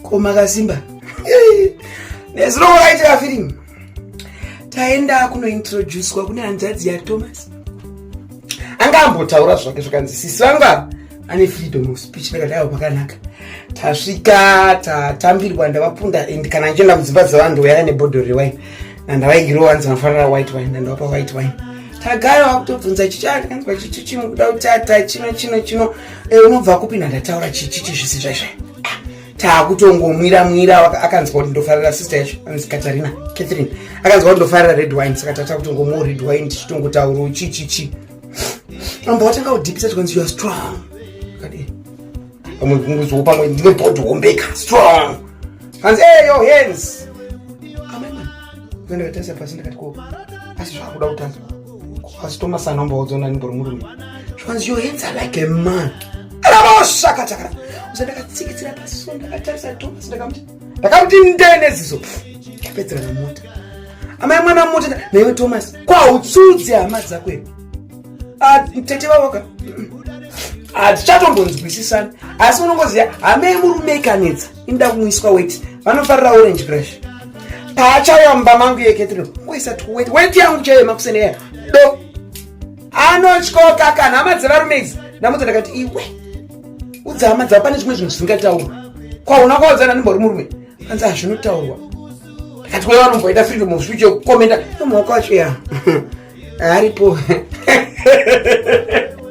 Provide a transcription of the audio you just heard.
ko makasimba nezuro wakaitira firimu taenda kunointroducwa kune hanzvadzi yathomas anga ambotaura zvake zvakanzi sisi vangu ava ane freedom of speech ndakadaiwa pakanaka tasvika tatambirwa ndavapunda and kana ndichienda mudzimba dzevanhu ndouyaya nebhodho rewine nandavaigiro wanzi vanofanira white wine nandavapa white wine tagara wakutobvunza chichiakanzwa chichichimukuda kutata chino chino chino eh, unobva kupi nandataura chichichi zvisi zvaizvai taakutongomwira mwira akanzwa kuti ndofarira sister yacho anonzi katarina catherine akanzwa kuti ndofarira red wine saka tata kutongomwa red wine tichitongotauro chi chi chi amba watanga kudhipisa tikanzi youare strong kadii pamwe kunguziwo pamwe ndine bhodhi hombeka strong kanzi eyo hands amai mwana Mene ndakatarisa pasi ndikati ko asi zvakuda kutanga asi Thomas anombaudza nani mbori murume zvikanzi your hands are like a man rabosakatakara usa ndakatsikitsira pasi so ndakatarisa Thomas ndakamuti ndakamuti ndene zizo ndapedzera namota amai mwana mota naiwe Thomas kwautsudzi hama dzako iwe ah, tete vavoka hatichatombonzwisisani asi unongoziva hamei murume ikanetsa inda kumwiswa weti vanofarira orange crush paachauya mumba mangu iye ketino ngoisa tiweti weti yangu chaiye makuseneya do anotyoka kana hama dzevarume idzi ndamudza ndakati iwe udza hama dzavo pane zvimwe zvinhu zvisingataurwa kwauna kwaodzana ndimbori murume anzi hazvinotaurwa ndakati wewe vanomboita freedom of speech yokukomenda nomwaka wacho ya aripo